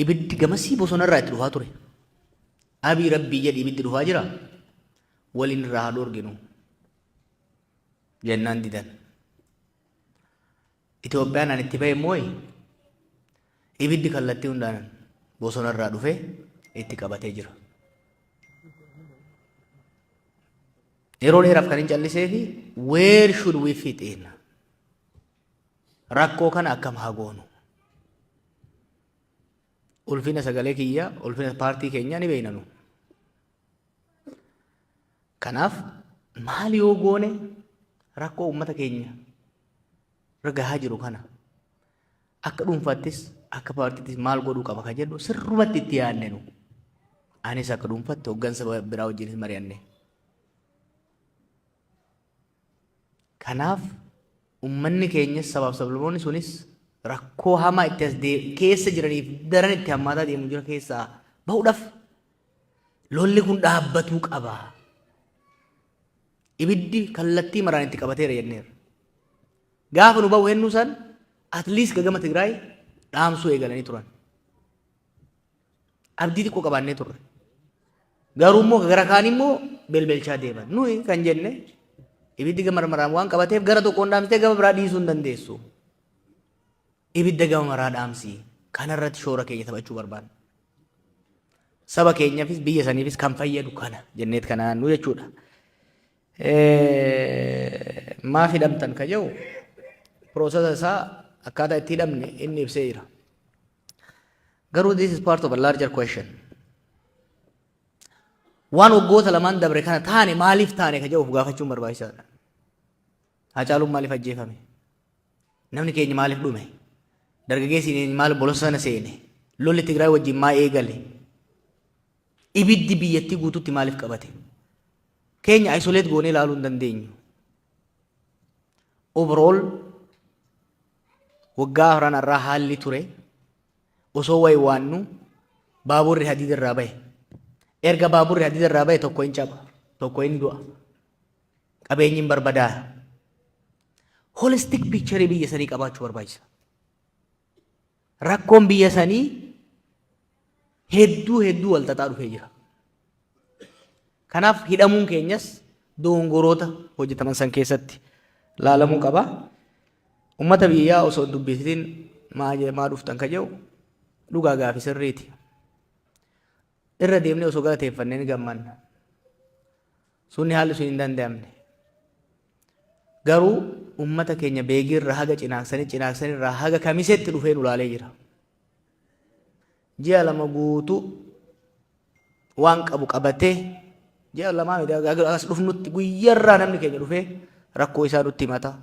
Ibiddi gamasii bosona irraa itti dhufaa ture. Abii rabbii jedhi ibiddi dhufaa jira. Waliin irraa haa dhoorginu. Jennaan didan. Itoophiyaan ani itti bahe mooyi ibiddi kallattii hundaan bosona irraa dhufee itti qabatee jira. Yeroo dheeraaf kan hin callisee fi where should we fit in? Rakkoo kana akkam haa goonu? Ulfina sagalee kiyyaa, ulfina paartii keenyaa ni beekna nu. Kanaaf maal yoo goone rakkoo uummata keenya irra gahaa jiru kana akka dhuunfaattis akka paartiittis maal godhuu qaba kan jedhu sirrumatti itti yaadne nu. Anis akka dhuunfaatti hooggansa biraa wajjinis mari'anne. Kanaaf ummanni keenyas sabaaf sablamoonni sunis rakkoo hamaa itti as keessa jiraniif daran itti hammaataa deemu jira keessaa bahuudhaaf lolli kun dhaabbatuu qaba. Ibiddi kallattii maraan itti qabateera jenneera. Gaafa nu bahu hennuu san at least gagama Tigraay dhaamsuu eegalanii turan. abdii xiqqoo qabaannee turre. Garuu immoo gara kaan immoo belbelchaa deeman. Nuyi kan jenne ibiddi gama maraan waan qabateef gara tokkoon dhaamsitee gama biraa dhiisuu hin dandeessu. Ibidda gama maraa dhaamsi. Kanarratti shoora keenya taphachuu barbaanna. Saba keenyaafis biyya saniifis kan fayyadu kana jenneet kana nu jechuudha. Maaf hidhamtan ka jedhu piroosesa isaa akkaataa itti hidhamne inni ibsee jira. Garuu this is part of a larger question. Waan waggoota lamaan dabre kana taane maaliif taane ka jedhu of gaafachuun barbaachisaadha. Haacaaluun maaliif ajjeefame? Namni keenya maaliif dhume? Dargaggeessi keenya maaliif bosona seene? Lolli Tigraay wajjin maa eegale? Ibiddi biyyattii guutuutti maaliif qabate? Keenya isolate goonee ilaaluu hin dandeenyu. Overall Waggaa afran arraa haalli ture osoo waywaannu baaburri hadiida irraa bahe. Erga baaburri hadiida irraa bahe tokko hin caba, tokko hin du'a. Qabeenyi hin barbadaa. Holistic picture biyya sanii qabaachuu barbaachisa. Rakkoon biyya sanii hedduu hedduu wal xaxaa dhufee jira. Kanaaf hidhamuun keenyas dogongoroota hojjetaman san keessatti laalamuu qaba. Uummata biyyaa osoo hin dubbisitin maa jee- maa dhuftan ka jedhu dhugaa gaafi sirriiti. Irra deemnee osoo galateeffannee ni gammanna. Sunni haalli sun hin danda'amne. Garuu ummata keenya Beegii irraa haga Cinaaksanii, Cinaaksanii irraa haga Kamiseetti dhufee nu laalee jira. Ji'a lama guutuu waan qabu qabatee ji'a lamaa miti haga as dhufnutti guyyarraa namni keenya dhufee rakkoo isaa nutti himata.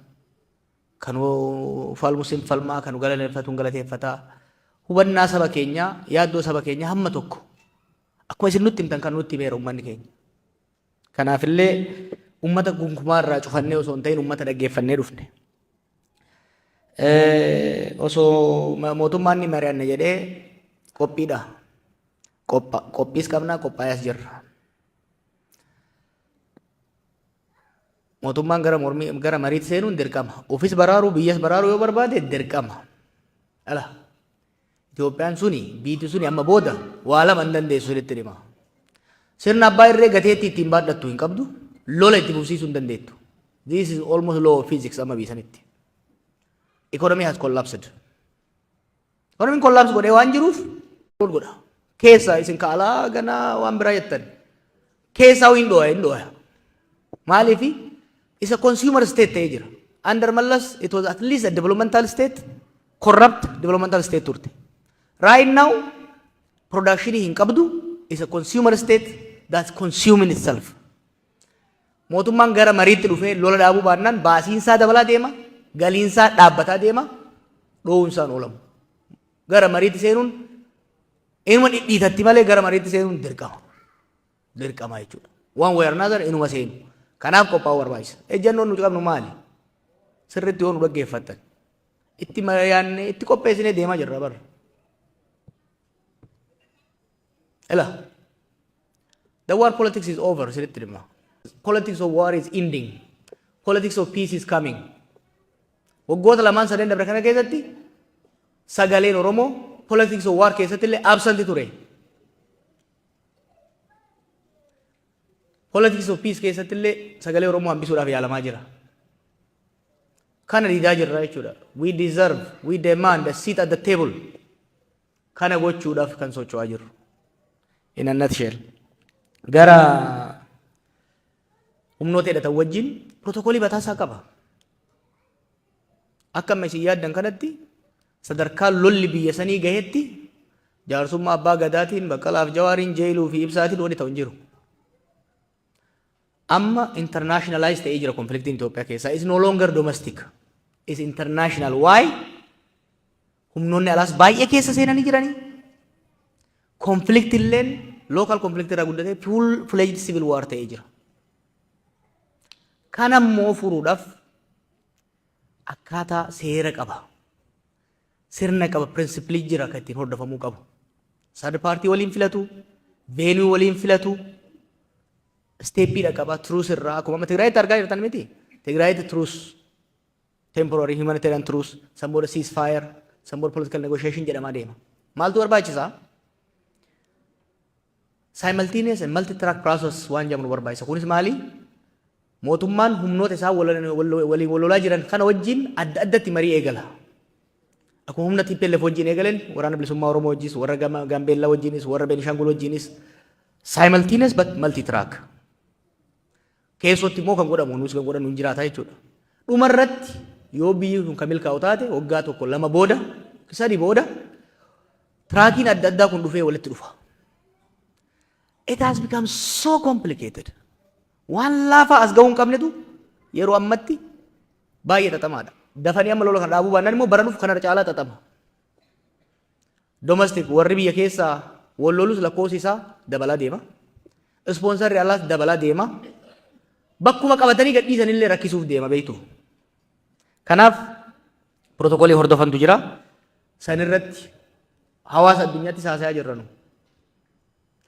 Kan falmus hin falmaa, kan galateeffatu hin galateeffataa. Hubannaa saba keenyaa, yaaddoo saba keenyaa hamma tokko akkuma isin nutti himtan kan nutti himeera ummanni keenya. Kanaafillee ummata gunkumaa irraa cufannee osoo hin ta'in ummata dhaggeeffannee dhufne. Osoo mootummaan ni mari'anna jedhee qophiidha. Qophiis qabnaa qophaa'ees jirra. Mootummaan gara mormii gara mariitti seenuun dirqama. Ofis baraaruu biyyas baraaruu yoo barbaade dirqama. Ala. Itoophiyaan suni, biiti suni amma booda waa lama hin dandeessu isinitti hima. Sirna abbaa irree gateettii ittiin baadhattu hin qabdu, lola itti fufsiisuu hin dandeettu. This is almost law of physics amma biisanitti. Economy has collapsed. Economy collapse godhee waan jiruuf godha. Keessa isin ka alaa ganaa waan biraa jettan. Keessaa hin dhooya hin dhooya. Maaliif isa consumer state ta'ee jira. Under Mallas it was at least a developmental state corrupt developmental state turte. Right now production hin qabdu is a consumer state that's consuming itself. Mootummaan gara mariitti dhufee lola dhaabuu baannaan baasiinsaa dabalaa deema, galiinsaa dhaabbataa deema, dhoowunsaan oolamu. Gara mariitti seenuun inuma dhidhiitatti malee gara mariitti seenuun dirqama. dirqama jechuudha. One way or another inuma seenu. Kanaaf qophaa'uu barbaachisa. Ejjannoon nuti qabnu maali? Sirriitti yoo nu dhaggeeffattan. Itti mari'annee itti qopheessinee deemaa jirra barra. Ela. The war politics is over sirriitti dhimma. Politics of war is ending. Politics of peace is coming. Waggoota lamaan sadeen dabre kana keessatti sagaleen Oromoo politics of war keessatti illee absent ture. Politics of Peace keessatti illee sagalee Oromoo hambisuudhaaf yaalamaa jira. Kana diidaa jirra jechuudha. We deserve, we demand a seat at the table. Kana gochuudhaaf kan socho'aa jirru. In a nutshell. Gara humnoota hidhatan wajjin protookoolii bataasaa qaba. Akka amma isin yaaddan kanatti Sadarkaa lolli biyya sanii gahetti jaarsummaa Abbaa Gadaatiin, Baqqalaa fi Jawaariin, Jeeyiluu fi Ibsaatiin wanni ta'u hin jiru. Amma internationalize ta'ee jira konfliktiin Itoophiyaa keessaa. It's no longer domestic. It's international. Why? Humnoonni alaas baay'ee keessa seenanii jiranii. Konflikti illeen local conflict irraa guddatee full fledged civil war ta'ee jira. Kana immoo furuudhaaf akkaataa seera qaba. Sirna qaba, principle jira kan ittiin hordofamuu qabu. Third party waliin filatu, venue waliin filatu, steppii dhaqaba, truce irraa akkuma amma Tigraayitti argaa jirtan miti. Tigraayitti truce, temporary humanitarian truce, san booda ceasefire, san booda political negotiation jedhamaa deema. Maaltu barbaachisaa? Simultaneous and multi-track process waan jedhamu nu barbaachisa. Kunis maali? Mootummaan humnoota isaan waliin wal lolaa jiran kana wajjin adda addatti marii eegala. Akkuma humna TPLF wajjin eegaleen waraana bilisummaa Oromoo wajjinis, warra Gaambeellaa wajjinis, warra Beenishaangul wajjinis simultaneous but multi-track. keessootti immoo kan godhamu nuus kan godhannu hin jiraata jechuudha. Dhuma irratti yoo biyyi kun kan milkaa'u taate waggaa tokko lama booda sadi booda tiraakiin adda addaa kun dhufee walitti dhufa. It has become so complicated. Waan laafaa as gahuu hin qabnetu yeroo ammatti baay'ee xaxamaadha. Dafanii amma lola kana dhaabuu baannaan immoo bara dhufu kanarra caalaa xaxama. Domestic warri biyya keessaa wal lolus lakkoofsi isaa dabalaa deema. Ispoonsarri alaas dabalaa deema. Bakkuma qabatanii gadhiisan illee rakkisuuf deema beektu. Kanaaf pirootokoolii hordofantu jira. San irratti hawaasa addunyaatti haasayaa jirranu.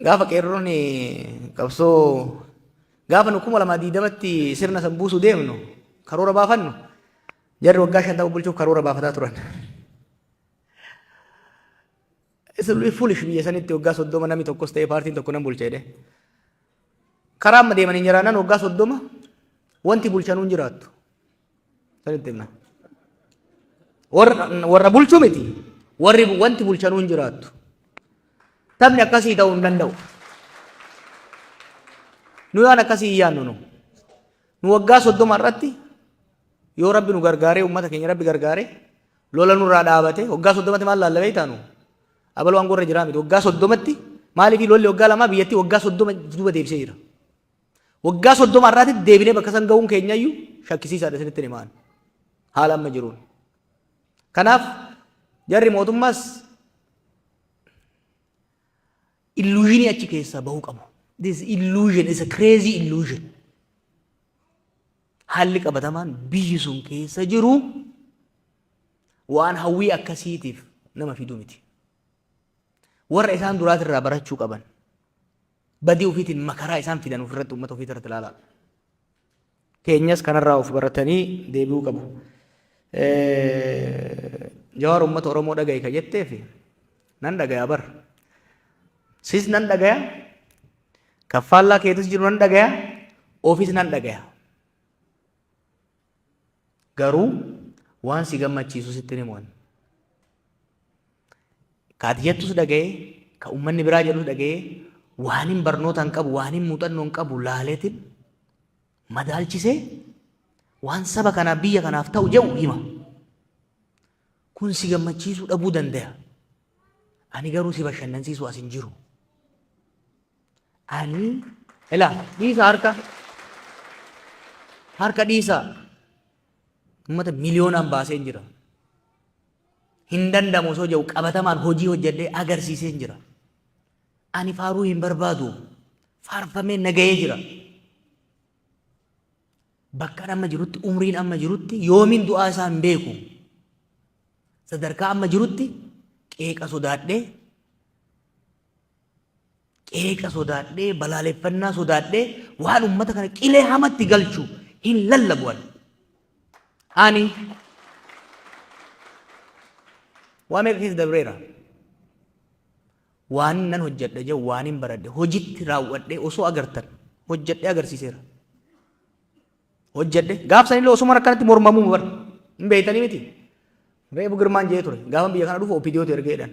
Gaafa qeerroon qabsoo gaafa nu kuma lamaa diidamatti sirna san buusu deemnu karoora baafannu jarri waggaa shantama bulchuuf karoora baafataa turan. Isin foolish biyya sanitti waggaa soddoma namni tokkos ta'ee paartiin tokko nan bulcha jedhee. Karaa amma deemanii jiraannan waggaa soddoma wanti bulchanuun jiraattu. Sanitti himna. Warra bulchu miti. Warri wanti bulchanuu hin jiraattu. Taphni akkasii ta'uu hin danda'u. Nu waan akkasii hin yaadnu nu. Nu waggaa soddoma irratti yoo rabbi nu gargaaree uummata keenya rabbi gargaaree lola nurraa dhaabate waggaa soddomatti maal laalla beektaa nu? Abaluu aangoo irra jiraa miti. Waggaa soddomatti maaliif lolli waggaa lamaa biyyattii waggaa soddoma duuba deebisee jira. Waggaa 30 irraatitti deebinee bakka san ga'uun keenyayyu shakkisiisaadha isinitti himaan. Haala amma jiruun. Kanaaf jarri mootummaas illuushinii achi keessaa bahuu qabu. This illusion is a crazy illusion. Haalli qabatamaan biyyi sun keessa jiru waan hawwii akkasiitiif nama fiduu miti. Warra isaan duraatirraa barachuu qaban. badii ufiitiin makaraa isaan fidan ofirratti ummata ofii irratti ilaalaa. Keenyas kanarraa of baratanii deebi'uu qabu. Jawaar ummata Oromoo dhaga'i ka jetteef nan dhagaya bar. Sis nan dhagaya, kaffaallaa keetis jiru nan dhagaya, ofis nan dhagaya. Garuu waan si gammachiisu sittin himu ani. Ka ati jettus dhaga'ee, ka ummanni biraa jedhus dhaga'ee, waanin barnoota hin qabu, waanin muuxannoo hin qabu laaleetin madaalchisee waan saba kanaaf biyya kanaaf ta'u jedhu hima. Kun si gammachiisuu dhabuu danda'a. Ani garuu si bashannansiisu as hin jiru. Ani ilaa dhiisa harka harka dhiisa uummata miliyoonaan baaseen jira. Hin danda'amu osoo jedhu qabatamaan hojii hojjedhee agarsiiseen jira. Ani faaruu hin barbaadu faarfamee nagahee jira. Bakkaan amma jirutti umriin amma jirutti yoomiin du'aa isaa hin beeku. Sadarkaa amma jirutti qeeqa sodaadhee Qeeqa sodaadhee, balaaleffannaa sodaadhee waan ummata kana qilee hamatti galchu hin lallabu ani. Ani waa meeqa keessa dabreera. Waan nan hojjedha jedhu waan hin baradhe hojitti raawwadhee osoo agartan hojjedhee agarsiiseera. Hojjedhe gaafsan illee osuma rakkanatti mormamuu bara hin beektanii miti. Reefu girmaan jedhee ture gaafan biyya kana dhufu opidiyootu ergeedhan.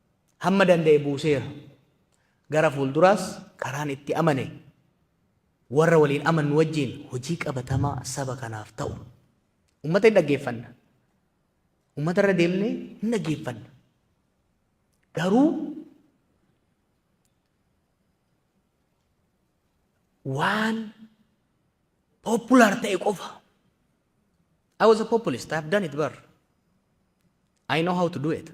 hamma danda'e buuseera. Gara fuulduraas karaan itti amane warra waliin amannu wajjin hojii qabatamaa saba kanaaf ta'u uummata hin dhaggeeffanna. Uummata irra deemnee hin dhaggeeffanna. Garuu waan popular ta'e qofa I was a populist. I've done it bar. I know how to do it.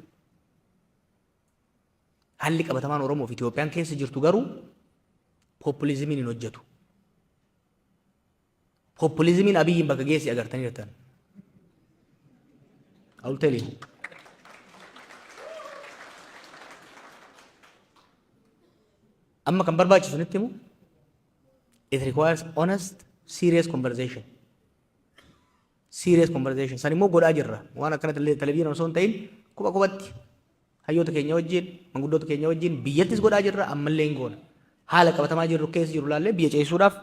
Haalli qabatamaan Oromoo fi Itoophiyaan keessa jirtu garuu populizimiin hin hojjetu. Populizimiin abiyyiin bakka geessi agartanii jirtan. I will tell you. Amma kan barbaachisu nitti himu It requires honest, serious conversation. Serious conversation. San immoo godhaa jirra. Waan akkana televizyiin osoo hin ta'in kopha kophatti hayyoota keenya wajjin, manguddoota keenya wajjin biyyattis godhaa jirra ammallee hin goona. Haala qabatamaa jirru keessa jiru ilaallee biyya ceesisuudhaaf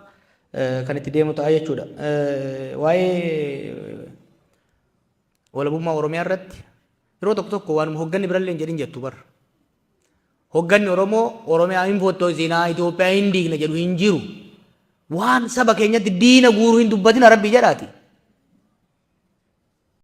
kan itti deemu ta'a jechuudha. Waa'ee walabummaa Oromiyaa irratti yeroo tokko tokko waanuma hoogganni birallee hin jedhin jettu barra. Hogganni Oromoo Oromiyaa hin fottoysinaa, Itoophiyaa hin diigna jedhu hin jiru. Waan saba keenyatti diina guuru hin dubbatina Rabbii jedhaati.